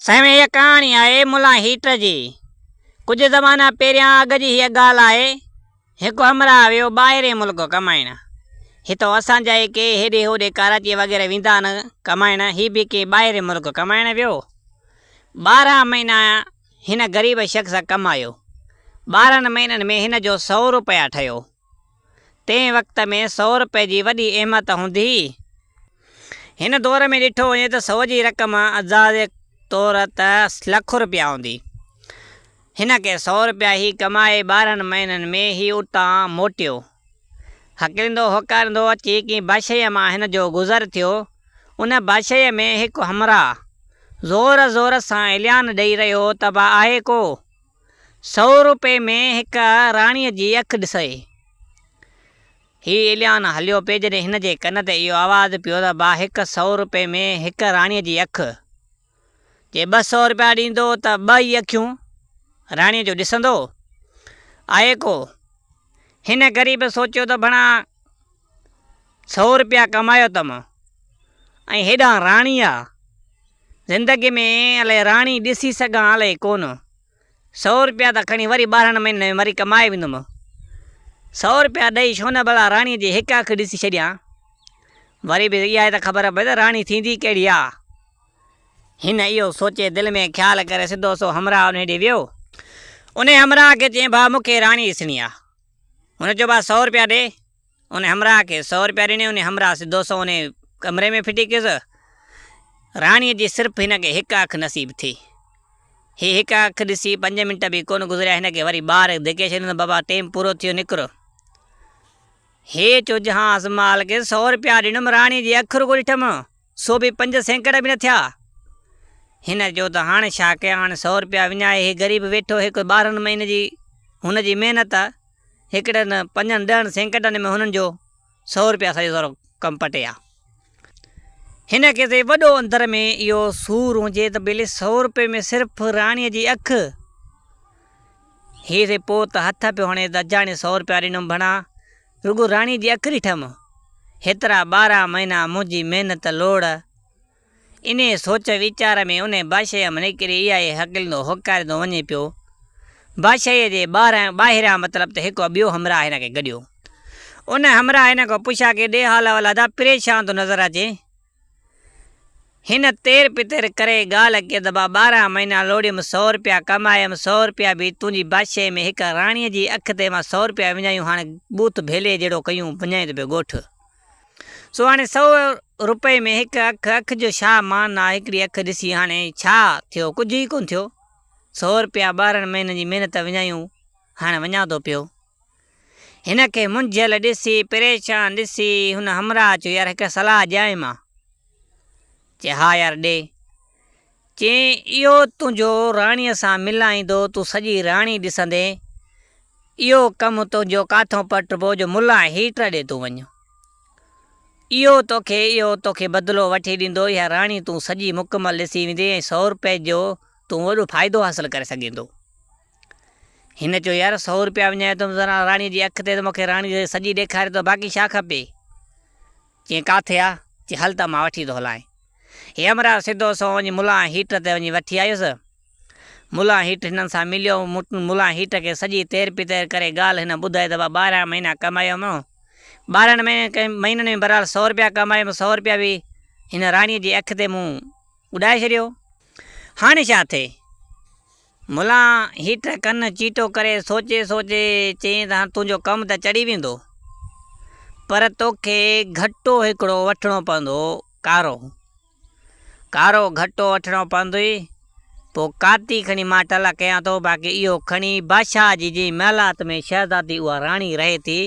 سائين هيء ڪهاڻي آهي ملان هيٽ جي. ڪجهه زمانا پهريان اڳ جي هيء ڳالهه آهي، هڪ همراهه ويو ٻاهرئين ملڪ ڪمائڻ. هتئون اسان جا ئي ڪي هيڏي هوڏي ڪراچيء وغيره ويندا آهن ڪمائڻ، هي به ڪنهن ٻاهرئين ملڪ ڪمائڻ ويو. ٻارهن مهينا هن غريب شخص ڪمايو. ٻارهن مهينن ۾ هن جو سؤ روپيا ٺهيو. تنهن وقت ۾ سؤ رپئي جي وڏي اهميت هوندي هئي. هن دور ۾ ڏٺو وڃي ته سؤ جي رقم اعزازي طور ته لک رپيا هوندي. هن ڪي سؤ رپيا هي ڪمائي ٻارهن مهينن ۾ هي اتان موٽيو. هڪريندو هوڪاريندو اچي ڪنهن باشيء مان هن جو گذر ٿيو. ان باشيء ۾ هڪ همراهه زور زور سان اعلان ڏئي رهيو هو ته با آهي ڪو؟ سؤ روپئي ۾ هڪ راڻيء جي اک ڏسئي. هي اليان هليو پئي جڏهن هن جي ڪن تي اهو آواز پيو ته با هڪ سؤ روپئي ۾ هڪ راڻيء جي اک. جي ٻه سؤ روپيا ڏيندو ته ٻه ئي اکيون راڻيء جون ڏسندو. آهي ڪو. هن غريب سوچيو ته ڀڻا. سؤ روپيا ڪمايو ته مان ۽ هيڏانهن راڻي آ زندگي ۾ الائي راڻي ڏسي سگهان الائي ڪونه سؤ روپيا ته کڻي وري ٻارهن مهينن ۾ وري ڪمائي ويندم سؤ روپيا ڏئي ڇو نه ڀلا راڻي جي هڪ اک ڏسي ڇڏيان وري به اها ته خبر پئي ته راڻي ٿيندي ڪهڙي آ هن اهو سوچي دل ۾ خيال ڪري سڌو سو همراهه انهي ڏي ويو انهي همراهه کي چيائين ڀاء مون کي راڻي ڏسڻي آ. هن چيو ڀاء سؤ روپيا ڏي ان همراهه کي سؤ روپيا ڏني ان همراهه سڌو سنئون ان ڪمري ۾ ڦٽي ڪيس راڻي جي صرف هن کي هڪ اک نصيب ٿي هي هڪ اک ڏسي پنج منٽ به ڪونه گذريا هن کي وري ٻاهر ڌڪي ڇڏيون بابا ٽيم پورو ٿيو نڪر هي چو جهان ازمال کي سؤ روپيا ڏنم راڻي جي اک رڳو ڏٺم سو به پنج سيڪڙ به نه ٿيا. هن چيو ته هاڻي ڇا ڪيان، سؤ رپيا وڃائي هي غريب ويٺو هي ڪوئي ٻارهن مهين جي هن جي محنت هڪڙن پنجن ڏهن سيڪڙن ۾ هنن جو سؤ رپيا سڄو سارو ڪم پٽي آ. هن کي سي وڏو اندر ۾ اهو سور هجي ته ڀلي سؤ رپئي ۾ صرف راڻيء جي اک هي سي پوء ته هٿ پيو هڻي ته اجاڻي سؤ رپيا ڏنم ڀڻا. رڳو راڻي جي اکري ٺم، هيترا ٻارهن مهينا منهنجي محنت لوڙ. انهيء سوچ ويچار ۾ انهيء بادشاهيء مان نڪري اها ئي هڪلندو هڪاريندو وڃي پيو. بادشاهيء جي ٻاهران ٻاهريان مطلب ته هڪ ٻيو همراهه هن کي گڏيو. ان همراهه هن کان پڇا ڪي ڏي حال احوال ادا پريشان ٿو نظر اچين. هن تير پتير ڪري ڳالهه ڪئي ته مان ٻارهن مهينا لوڙيم، سؤ روپيا ڪمايم، سؤ روپيا به تنهنجي بادشاهي ۾ هڪ راڻيء جي اک تي مان سؤ روپيا وڃايون، هاڻ ٻوٿ ڀيلي جهڙو ڪيون، ڀڃائين ته پيو ڳوٺ. سو هاڻي سؤ روپئي ۾ هڪ اک، اک جو ڇا مان آ، هڪڙي اک ڏسي هاڻي ڇا ٿيو، ڪجهه ئي ڪونه ٿيو، سؤ روپيا ٻارهن مهينن جي محنت وڃايون، هاڻ وڃان ٿو پيو. هن کي منجهيل ڏسي، پريشان ڏسي، هن همراهه چيو، يار هڪ صلاح ڏيانء مان؟ چي، ها يار ڏي. چيائين، اهو تنهنجو راڻيء سان ملائيندو، تون سڄي راڻي ڏسندين. اهو ڪم تنهنجو ڪاٿئون پٽبو جو ملان ۽ هيٽر ڏي تون وڃ. اهو توکي اهو توکي بدلو وٺي ڏيندو، اها راڻي تون سڄي مڪمل ڏسي ويندين ۽ سؤ روپين جو تون وڏو فائدو حاصل ڪري سگهيندو. هن چيو، يار سؤ روپيا وڃائي ٿو زرا راڻيء جي اک تي ته مون کي راڻي جي سڄي ڏيکاري ٿو باقي ڇا کپي؟ چيائين، ڪاٿي آ؟ چي هل ته مان وٺي ٿو هلانء. هيمراج سڌو سنئون وڃي ملان هيٺ تي وڃي وٺي آيس. ملان هيٺ هنن سان مليو. ملان هيٺ کي سڄي تير پتير ڪري ڳالهه هن ٻڌائي ته ڀا ٻارهن مهينا ڪمايم. ٻارهن مهينن ۾ بهرحال سؤ روپيا ڪمايم. سؤ روپيا به هن راڻيء جي اک تي مون اڏائي ڇڏيو. هاڻي ڇا ٿئي؟ ملان هيٺ ڪن چيٽو ڪري سوچي سوچي چيائين ته هاڻ تنهنجو ڪم ته چڙهي ويندو پر توکي گهٽو هڪڙو وٺڻو پوندو ڪارو ڪارو گهٽو وٺڻو پوندوئي پوء ڪاتي کڻي مان ٽلا ڪيان ٿو باقي اهو کڻي بادشاهه جي جنهن محلات ۾ شهزادي اها راڻي رهي ٿي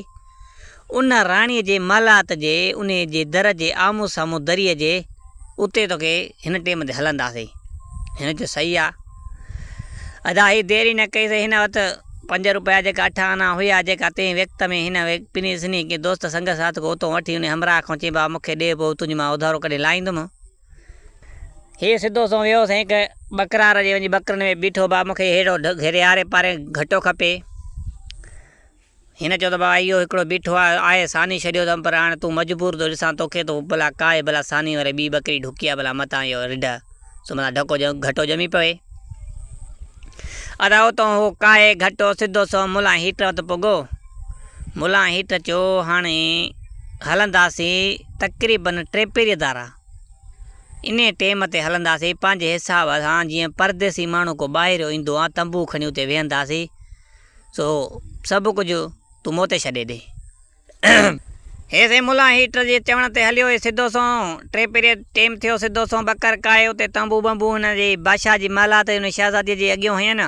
ان راڻيء جي محلات جي انهيء جي در جي آمهون سامهون دريء جي اتي توکي هن ٽيم تي هلنداسين. هن چيو، صحيح آ. ادا هي دير ئي نه ڪئي سي هن وٽ پنج روپيا جيڪا اٺ آنا هيا جيڪا تنهن وقت ۾ هن پني سني ڪنهن دوست سنگ ساٿ کان اتان وٺي انهيء همراهه کان چيم بابا مون کي ڏي پوء تنهنجي مان اڌارو ڪڍي لائيندم. هي سڌو سنئون ويو سائين هڪ ٻڪرار جي وڃي ٻڪرن ۾ بيٺو بابا مون کي ههڙو گهري آري پاري گهٽو کپي. هن چيو ته بابا اهو هڪڙو بيٺو آهي، آء ساني ڇڏيو اٿم، پر هاڻ تون مجبور ٿو ڏسان توکي ته ڀلا ڪاهي ڀلا ساني وري ٻي ٻڪري ڍڪي آ ڀلا متان اهو رڍ سو متان ڍڪو گهٽو ڄمي پوي. ادا اتون هو ڪاهي گهٽو سڌو سنئون ملان هيٽ وٽ پڳو. ملان هيٽ چيو هاڻي هلنداسين تقريباً ٽيپيري ڌارا. انهي ٽيم تي هلنداسين پنهنجي حساب سان جيئن پرديسي ماڻهو ڪو ٻاهريو ايندو آ تنبو کڻي اتي ويهنداسين. سو سڀ ڪجهه تون مون تي ڇڏي ڏي. هي سين ملان هيٽر جي چوڻ تي هليو هي سڌو سنئون ٽي پيريڊ ٽيم ٿيو سڌو سنئون ٻڪر ڪاهي اتي تنبو ٻنبو هن جي بادشاهه جي محل هٿ هن شهزادي جي اڳيون هين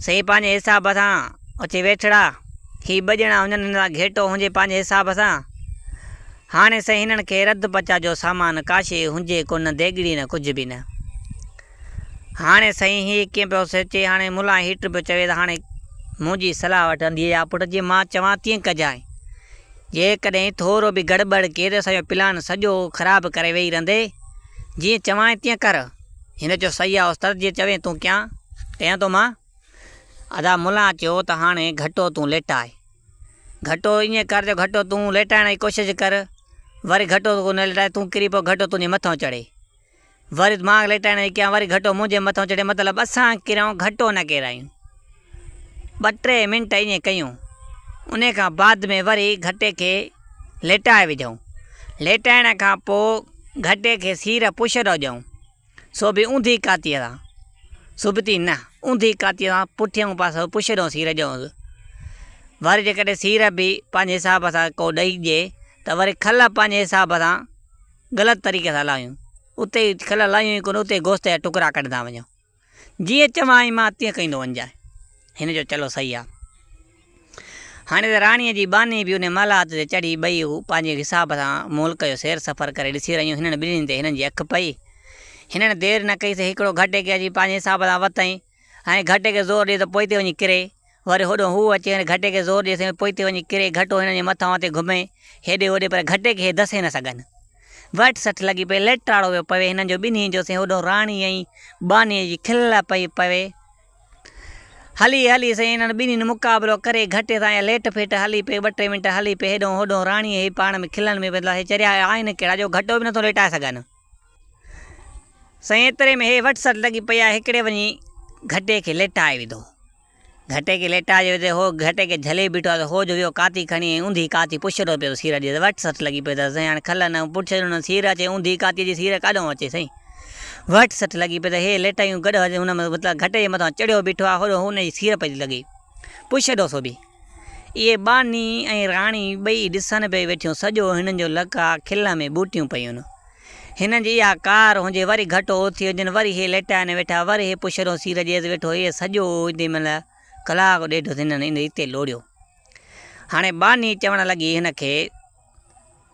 سين پنهنجي حساب سان اچي ويٺڙا هي ٻه ڄڻا هجن هن سان گهيٽو هجي پنهنجي حساب سان هاڻي سين هنن کي رڌ پچا جو سامان ڪاشي هجي ڪونه ديڳڙي نه ڪجهه به نه. هاڻي سائين هي ڪيئن پيو سوچي؟ هاڻي ملان هيٽر پيو چوي ته هاڻي منهنجي صلاح وٺندينء يا پٽ جيئن مان چوان تيئن ڪجانء. جيڪڏهن ٿورو به گڙٻڙ ڪئي ته اسانجو پلان سڄو خراب ڪري ويهي رهندي. جيئن چوانء تيئن ڪر. هن چيو صحيح آ استاد جيئن چوين تون ڪيان ڪيان ٿو مان. ادا ملان چيو ته هاڻي گهٽو تون ليٽاء. گهٽو ائين ڪر جو گهٽو تون ليٽائڻ جي ڪوشش ڪر. وري گهٽو ڪو نه ليٽائي تون ڪري پو گهٽو تنهنجي مٿان چڙهي. وري دماغ ليٽائڻ جي ڪيان وري گهٽو منهنجي مٿان چڙهي مطلب اسان ڪيرائون گهٽو نه ڪيرايون. ٻه ٽي منٽ ائين ڪيون ان کان بعد ۾ وري گهٽي کي ليٽائي وڌئون. ليٽائڻ کان پوء گهٽي کي سير پڇ ڏو ڏيئون سو به اونڌي ڪاتيء سان. سبتي نه اونڌي ڪاتيء سان پٺيئون پاسو پڇ ڏو سير ڏيئونس. وري جيڪڏهن سير به پنهنجي حساب سان ڪو ڏئي ڏي ته وري کل پنهنجي حساب سان. غلط طريقي سان لاهيون، اتي ئي کل لاهيون ئي ڪونه، اتي ئي گوشت جا ٽڪرا ڪڍندا وڃو. جيئن چوانء مان تيئن ڪندو وڃجانء. هن جو چلو صحيح آ. هاڻي ته راڻيء جي ٻانهي به انهي مالات تي چڙهي ٻئي هو پنهنجي حساب سان ملڪ جو سير سفر ڪري ڏسي رهيون هنن ٻنهي تي هنن جي اک پئي. هنن دير نه ڪئي سي هڪڙو گهٽ اڪي اچي پنهنجي حساب سان وتائين. هنئين گهٽي کي زور ڏي ته پوئتي وڃي ڪري. وري هوڏانهن هو اچي هنئين گهٽي کي زور ڏي ته پوئتي وڃي ڪري. گهٽو هنن جي مٿان مٿي گهمي هيڏي هوڏي پر گهٽي کي هي دسي نه سگهن. وهٽ سٺ لڳي پئي، ليٽ ٽاڙو ويو پوي هنن جو ٻنهين جو. هوڏانهن راڻي ۽ ٻانهيء جي کل پئي پوي. هلي هلي سائين هنن ٻنهين مقابلو ڪري گهٽي سان اها ليٽ ڦيٽ هلي پئي. ٻه ٽي منٽ هلي پئي هيڏانهن هوڏانهن راڻي هي پاڻ ۾ کلن ۾ پئي. هي چريا آهن ڪهڙا جو گهٽو به نٿو ليٽائي سگهن. سائين ايتري ۾ هي وٽ سٽ لڳي پئي آهي هڪڙي وڃي گهٽي کي ليٽائي وڌو. گهٽي کي ليٽائي جو وڌي هو گهٽي کي جهلي بيٺو آهي ته هو جو ويو ڪاتي کڻي ۽ اوندهي ڪاتي پڇيرو پيو سير اچي ته وٽ سٽ لڳي پئي ته سائين هاڻي کل نه پڇيرو نه سير اچي اوندهي ڪاتي جي سير ڪاڏئون اچي سائين وٽ سٽ لڳي پئي ته هي ليٽايون گڏ هجي هن مطلب گهٽي جي مٿان چڙهيو بيٺو آهي هوڏو هن جي سير پئي ٿي لڳي پڇيرو سو به اهي ٻانهي ۽ راڻي ٻئي ڏسن پئي ويٺيون. سڄو هنن جو لڪا کل ۾ ٻوٽيون پيون. هنن جي اها ڪار هنجي وري گهٽ اوٿي هجن، وري هي ليٽائن ويٺا، وري هي پشرو سير جيز ويٺو، اهي سڄو اوچتي مهل ڪلاڪ ڏيڍ اٿي هنن ان ريتي لوڙيو. هاڻي ٻانهي چوڻ لڳي هن کي،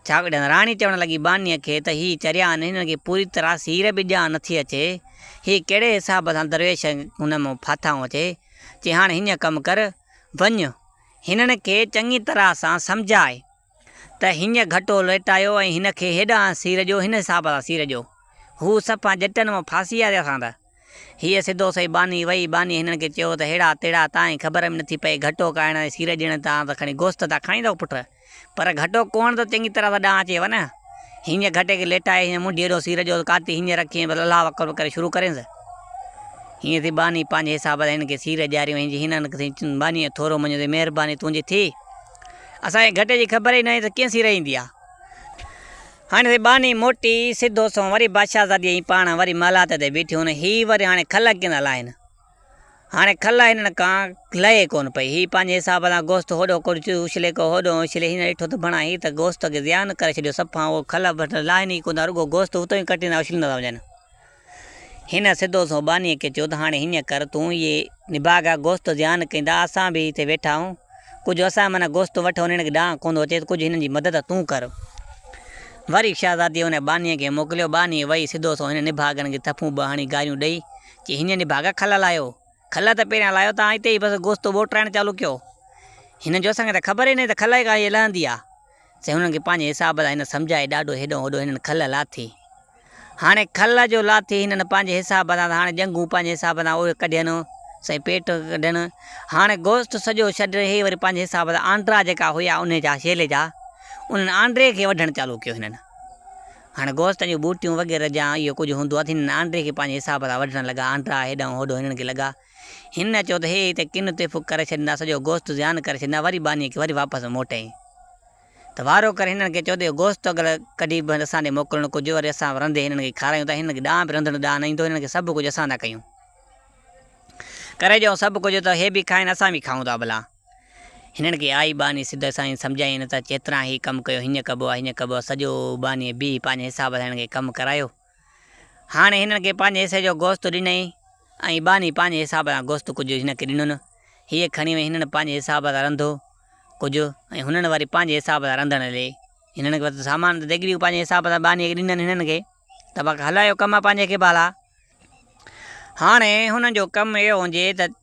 ڇاڪڙي راڻي چوڻ لڳي ٻانهي کي ته هي چريا آهن، هنن کي پوري طرح سير به ڄاڻ نٿي اچي، هي ڪهڙي حساب سان درويش هن مان ڦاٿائون اچي، چي هاڻي هيئن ڪم ڪر، وڃ، هنن کي چڱي طرح سان سمجهاء ته هينئن گهٽو ليٽايو ۽ هن کي هيڏانهن سير ڏيو، هن حساب سان سير ڏيو. هو صفا جٽن مان ڦاسي آيا رهيا سانده. هيء سڌو سئي ٻانهي وئي. ٻانهيء هنن کي چيو ته هيڙا تيڙا تانئين خبر ۾ نٿي پئي، گهٽو کائڻ ۽ سير ڏيڻ تان ته کڻي گوشت ٿا کائيندا پٽ. پر گهٽو ڪوڻ ته چڱي طرح سان ڏانهن اچي وڃ. هينئن گهٽي کي ليٽائي هينئن منڍي هيڏو سير جو ته ڪاتي هينئن رکي ۽ بس الله اڪبر ڪري شروع ڪرينس. هينئن ٿي ٻانهي پنهنجي حساب سان هن کي سير ڏياريون ۽ هينئن هن کي سائين چيو ٻانهي ٿورو مڃيو ٿي مهرباني تنهنجي ٿي. اسان کي گهٽي جي خبر ئي نه هئي ته ڪيئن سير ايندي آ. هاڻي ٿي ٻانهي موٽي سڌو سنئون وري بادشاهزادي ۽ پاڻ وري محلات تي بيٺيون ۽ هي وري هاڻي کل ڪيئن ٿا لاهين. هاڻي کل هنن کان لهي ڪونه پئي. هي پنهنجي حساب سان گوشت هوڏو ڪڙچيو اڇلي ڪو هوڏو اڇلي هن ڏٺو ته ڀڻا هي ته گوشت کي ضيان ڪري ڇڏيو صفا اهو کل ڀٽ لاهين ئي ڪونه ٿا رڳو گوشت اتو ئي ڪٽيندا اڇليندا ٿا وڃن. هن سڌو سنئون ٻانهيء کي چيو ته هاڻي هيئن ڪر تون اهي نڀاڳا گوشت ضيان ڪيندا اسان به هتي ويٺا آهيون ڪجهه اسان معنيٰ گوشت وٺ هنن کي ڏانء ڪونه ٿو اچي ته ڪجهه هنن جي مدد تون ڪر. وري شهزاديء ان ٻانهيء کي موڪليو ٻانهي وئي سڌو سنئون هنن نڀاڳن کي ٿڦون ٻه هڻي گاريون ڏئي چي هنن جي باغ کل لاهيو. کل ته پهريان لاهيو ته هتي ئي بس گوشت ٻوٽرائڻ چالو ڪيو. هنن جو اسان کي ته خبر ئي ناهي ته کل ڪا شيء لهندي آ. سي هنن کي پنهنجي حساب سان هن سمجهائي ڏاڍو هيڏانهن هوڏانهن هنن کل لاٿي. هاڻي کل جو لاٿي هنن پنهنجي حساب سان ته هاڻي ڄنگهون پنهنجي حساب سان اهي ڪڍين سائين پيٽ ڪڍين. هاڻي گوشت سڄو ڇڏ هي وري پنهنجي حساب سان آنڊرا جيڪا هيا انهي جا شيلي جا انهن آنڊري کي وڍڻ چالو ڪيو هنن. هاڻ گوشت جون ٻوٽيون وغيره جا اهو ڪجهه هوندو اٿي هن آنڊري کي پنهنجي حساب سان وڍڻ لڳا آنڊرا هيڏانهن هوڏو هڻڻ کي لڳا هن چيو ته هي هتي ڪن تيفڪ ڪري ڇڏيندا سڄو گوشت زيان ڪري ڇڏيندا وري ٻانهيء کي وري واپس ۾ موٽئين ته وارو ڪري هنن کي چئو ته اهو گوشت اڳل ڪڍي به اسان ڏي موڪلڻ ڪجهه وري اسان رنڌي هنن کي کارائيون ته هنن کي ڏانهن به رنڌڻ ڏانهن نه ايندو هنن کي سڀ ڪجهه اسان ٿا ڪيون ڪري ڏيون سڀ ڪجهه ته هي به کائين اسان به کائون ٿا ڀلا. هنن کي آئي ٻانهي سڌ سائين سمجهايائين ته چيتران هي ڪم ڪيو هينئن ڪبو آ هينئن ڪبو آ سڄو ٻانهي بيهي پنهنجي حساب سان هنن کي ڪم ڪرايو هاڻي هنن کي پنهنجي حصي جو گوشت ڏنئين ۽ ٻانهي پنهنجي حساب سان گوشت ڪجهه هن کي ڏنن هيء کڻي وئي هنن پنهنجي حساب سان رنڌو ڪجهه ۽ هنن وري پنهنجي حساب سان رنڌڻ لئي هنن کي سامان ته ديڳڙيون پنهنجي حساب سان ٻانهي کي ڏنن هنن کي ته باقي هلايو ڪم پنهنجي کي ڀالا هاڻي هنن جو ڪم اهو هجي ته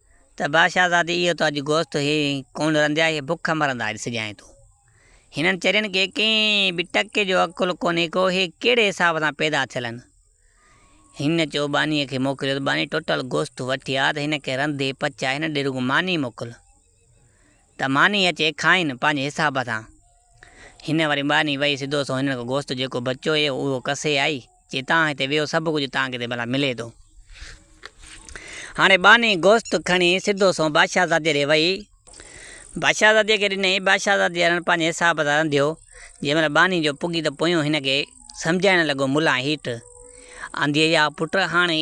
ته بادشاهزادي اهو ته اڄ گوشت هي ڪونه رنڌيا هي بک مرندا اڄ سڄائين تون هنن چرين کي ڪنهن به ٽڪي جو عقل ڪونهي ڪو هي ڪهڙي حساب سان پيدا ٿيل هن هن چيو ٻانهي کي موڪليو ته ٻانهي ٽٽل گوشت وٺي آ ته هن کي رنڌي پچاء هن ڏي رڳو ماني موڪل ته ماني اچي کائين پنهنجي حساب سان هن وري ٻانهي وئي سڌو سنئون هنن کان گوشت جيڪو بچيو هي اهو ڪسي آئي جي تان هتي ويهو سڀ ڪجهه تان کي هتي ڀلا ملي ٿو. هاڻي ٻانهي گوشت کڻي سڌو سنئون بادشاهه زادي ڏي وئي. بادشاهه زادي کي ڏنئي، بادشاهه زادي اڻڻ پنهنجي حساب سان رنڌيو. جنهن مهل ٻانهي جو پڳي ته پويون هن کي سمجهائڻ لڳو ملان هيٺ آنديئي آ پٽ هاڻي.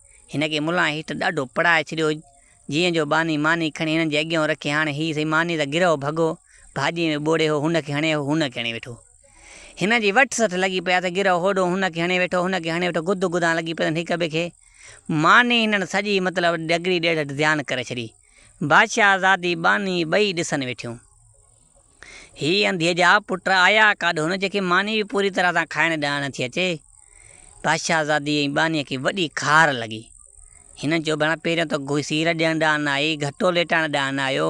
هن کي ملان هيٺ ڏاڍو پڙهائي ڇڏيو، جيئن جو ٻانهي ماني کڻي هنن جي اڳيئون رکي هاڻي هي سائين ماني ته گرهه ڀڳو ڀاڄيء ۾ ٻوڙي هو هن کي هڻي هو هن کي هڻي ويٺو. هنن جي وٺ سٺ لڳي پئي اٿس گرهه هوڏهون هن کي هڻي ويٺو هن کي هڻي ويٺو گد گدان لڳي پئي اٿن هڪ ٻئي کي ماني هنن سڄي مطلب ڏڳڙي ڏيڍ ڏيان ڪري ڇڏي. بادشاهزادي ٻانهي ٻئي ڏسن ويٺيون. هي انڌيء جا پٽ آيا ڪاڏهون جيڪي ماني به پوري طرح سان کائڻ ڏانهن نه ٿي اچي. بادشاهزادي ۽ ٻانهيء کي وڏي خار لڳي. هنن چيو ڀيڻا پهريون ته سير ڏيڻ ڏانهن نه آئي، گهٽو ليٽائڻ ڏانهن نه آيو،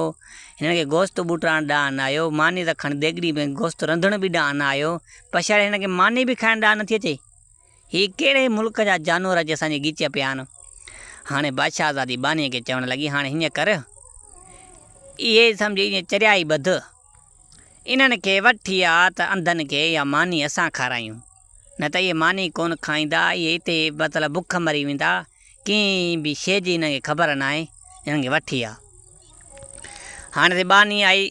هنن کي گوشت ٻوٽائڻ ڏانهن نه آيو، ماني رکڻ، ديڳڙي ۾ گوشت رنڌڻ به ڏانهن نه آيو. پڇاڙي هنن کي ماني به کائڻ ڏانهن نه ٿي اچي. هي ڪهڙي ملڪ جا جانور اچي اسان جي ڳچيء پيا آهن؟ هاڻي بادشاهزادي ٻانهيء کي چوڻ لڳي، هاڻي هيئن ڪر، اهي سمجهه ايئن چريا ئي ٻڌ. انهن کي وٺي آ ته انڌن کي اها ماني اسان کارايون. نه ته اهي ماني ڪونه کائيندا، اهي اتي ئي مطلب بک مري ويندا، ڪنهن به شيء جي انهن کي خبر ناهي، انهن کي وٺي آ. هاڻي ته ٻانهي آئي.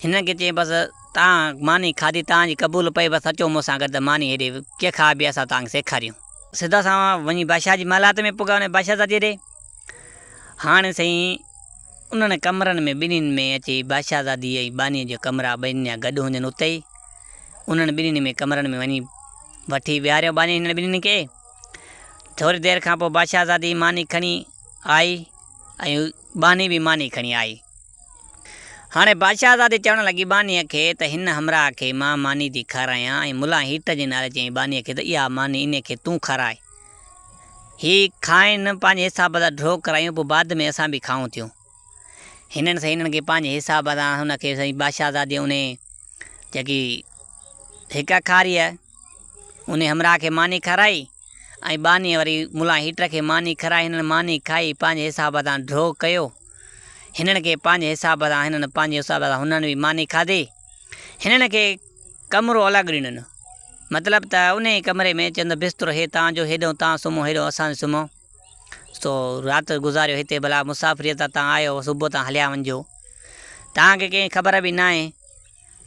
هنن کي چيائين، بس تان ماني کاڌي تان جي قبول پئي، بس اچو مون سان گڏ ته ماني هيڏي ڪي کائبي اسان تان کي سيکاريون. سڌا سانوا وڃي بادشاهه جي محلات ۾ پڳا ۽ بادشاهه زادي ڏي. هاڻي سائين انهن ڪمرن ۾ ٻنهين ۾ اچي بادشاهه زادي ۽ ٻانهيء جا ڪمرا ٻنهين جا گڏ هوندين اتي ئي انهن ٻنهين ۾ ڪمرن ۾ وڃي وٺي ويهاريائون ٻانهين هنن ٻنهين کي. ٿوري دير کان پوء بادشاهه زادي ماني کڻي آئي ۽ ٻانهي به ماني کڻي آئي. هاڻي بادشاهزادي چوڻ لڳي ٻانهيء کي ته هن همراهه کي مان ماني ٿي کارايان ۽ ملان هيٺ جي نعري چيائين ٻانهيء کي ته اها ماني انهيء کي تون کاراء. هي کائين، پنهنجي حساب سان ڍوڪ ڪرايون، پوء بعد ۾ اسان به کائون ٿيون. هنن سائين هنن کي پنهنجي حساب سان هن کي سائين بادشاهزادي انهيء جيڪي هڪ اکاريء انهيء همراهه کي ماني کارائي. ۽ ٻانهيء وري ملان هيٽر کي ماني کارائي هنن ماني کائي پنهنجي حساب سان ڍؤ ڪيو. هنن کي پنهنجي حساب سان هنن پنهنجي حساب سان هنن به ماني کاڌي. هنن کي ڪمرو الڳ ڏنو نه مطلب ته انهيء ڪمري ۾ چند بسترو هي تان جو هيڏهون تان سمهو هيڏهون اسان سمهو. سو رات گذاريو هتي ڀلا مسافريء تان تان آيو صبح تان هليا وڃجو. تان کي ڪنهن خبر به ناهي.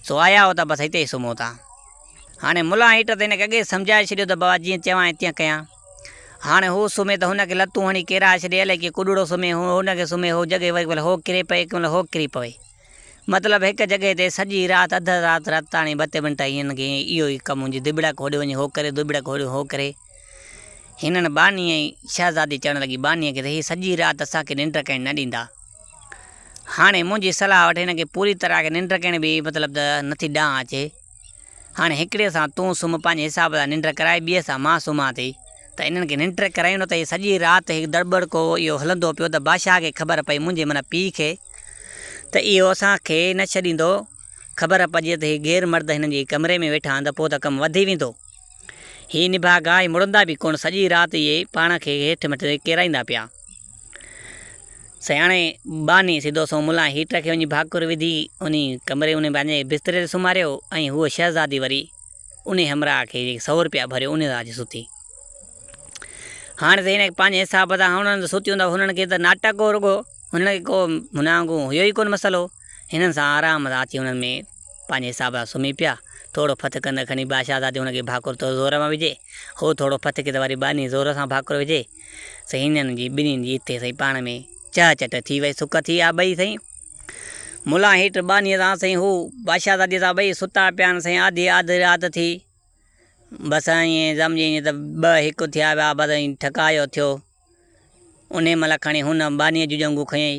سو آيا هو ته بس هتي ئي سمهو ٿا. هاڻي ملان هيٽر ته هن کي اڳي ئي سمجهائي ڇڏيو ته بابا جيئن چوانء تيئن ڪيان. هاڻي هو سمهي ته هن کي لتون هڻي ڪيرائي ڇڏي الائي ڪيئن ڪڏڙو سمهي هو هن کي سمهي هو جڳهه ڪنهن مهل هو ڪري پئي ڪنهن مهل هو ڪري پوي. مطلب هڪ جڳهه تي سڄي رات اڌ رات رت تاڻي ٻه ٽي منٽ هنن کي اهو ئي ڪم هو جي دٻڙڪ هوڏي وڃي هو ڪري دٻڙڪ هوڏي هو ڪري. هنن ٻانهيء جي شهزادي چوڻ لڳي، ٻانهيء کي ته هي سڄي رات اسان کي ننڊ ڪرڻ نه ڏيندا. هاڻي منهنجي صلاح وٺ هن کي پوري طرح کي ننڊ ڪرڻ به مطلب ته نٿي ڏانء اچي. هاڻي هڪڙيء سان تون سمهه پنهنجي حساب سان ننڊ ڪرائي ٻيء سان مان سمهان ٿي. ته هنن کي ننڊ ڪرايون نه ته هي سڄي رات هي دڙٻڙڪو اهو هلندو پيو ته بادشاهه کي خبر پئي منهنجي معنيٰ پيء کي ته اهو اسان کي نه ڇڏيندو. خبر پئجي ته هي غير مرد هنن جي ڪمري ۾ ويٺا آهن ته پوء ته ڪم وڌي ويندو. هي نڀاڳا ۽ مڙندا به ڪونه، سڄي رات اهي پاڻ کي هيٺ مٿي ٿي ڪيرائيندا پيا. سياڻي ٻانهي سڌو سنئون ملان هيٽر کي وڃي ڀاڪر وڌي، انهي ڪمري انهي پنهنجي بستري تي سمهاريو ۽ هوء شهزادي وري انهي همراهه کي جيڪي سؤ روپيا ڀريو انهي سان اچي ستي. هاڻ ته هن پنهنجي حساب سان هونئن ته ستي هوندو، هنن کي ته ناٽڪ هو رڳو، هنن کي ڪو هن وانگون هيو ئي ڪونه مسئلو. هنن سان آرام سان اچي انهن ۾ پنهنجي حساب سان سمهي پيا. ٿورو ڦٿ ڪندڙ کڻي ٻا شهزادي هن کي ڀاڪر تو زور مان وجهي، هو ٿورو ڦٿ ڪي ته وري ٻانهي زور سان ڀاڪر وجهي. سائين هنن جي ٻنهين جي اتي سائين پاڻ ۾ چهه چٽ ٿي وئي سڪ ٿي آ ٻئي سائين ملان هيٺ ٻانهي سان سائين هو ٻا شهزادي سان ٻئي ستا پيا آهن سائين آڌي آڌ رات ٿي بس ائين سمجهي ائين ته ٻه هڪ ٿيا ويا بس ائين ٺڪاء جو ٿيو انهي مهل کڻي هن ٻانهي جون ڄنگهون کنيئي.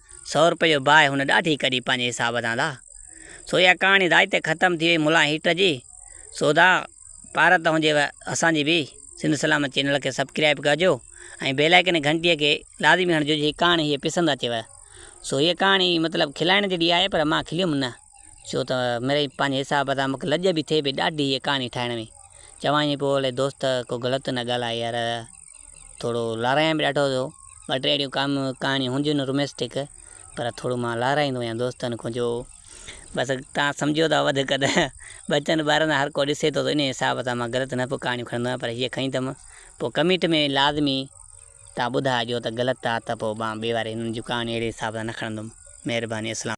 سؤ روپئي جو باهه هن ڏاڍي ڪڍي پنهنجي حساب سان لا. سو اها ڪهاڻي ادائي تي ختم ٿي وئي ملان هيٽ جي. سو ادا پارت توهان جي و اسان جي به سنڌ سلامت چينل کي سبڪرائيب ڪرجو ۽ بيل آئيڪن گهنٽي کي لازمي هڻجو جي ڪهاڻي هيء پسند اچيو. سو هيء ڪهاڻي مطلب کلائڻ جهڙي آهي پر مان کليم نه. ڇو ته مڙئي پنهنجي حساب سان مونکي لڄ به ٿئي پئي ڏاڍي هيء ڪهاڻي ٺاهڻ ۾. چوان ايئن پيو هلي دوست ڪو غلط نه ڳالهاء يار. ٿورو لارائيان به ڏاڍو ٿو. ٻه ٽي اهڙيون ڪام ڪهاڻيون هونديون نه روميسٽڪ پر ٿورو مان لارائيندو آهيان دوستن کان جو بس تان سمجهيو ٿا وڌ قد ٻچن ٻارن سان هر ڪو ڏسي ٿو انهي حساب سان مان غلط نه پوء ڪهاڻيون کڻندو آهيان پر هيء کڻي ٿم پوء ڪمينٽ ۾ لازمي تان ٻڌائجو ته غلط آ ته پوء مان ٻي واري هنن جون ڪهاڻيون اهڙي حساب سان نه کڻندم. مهرباني اسلام.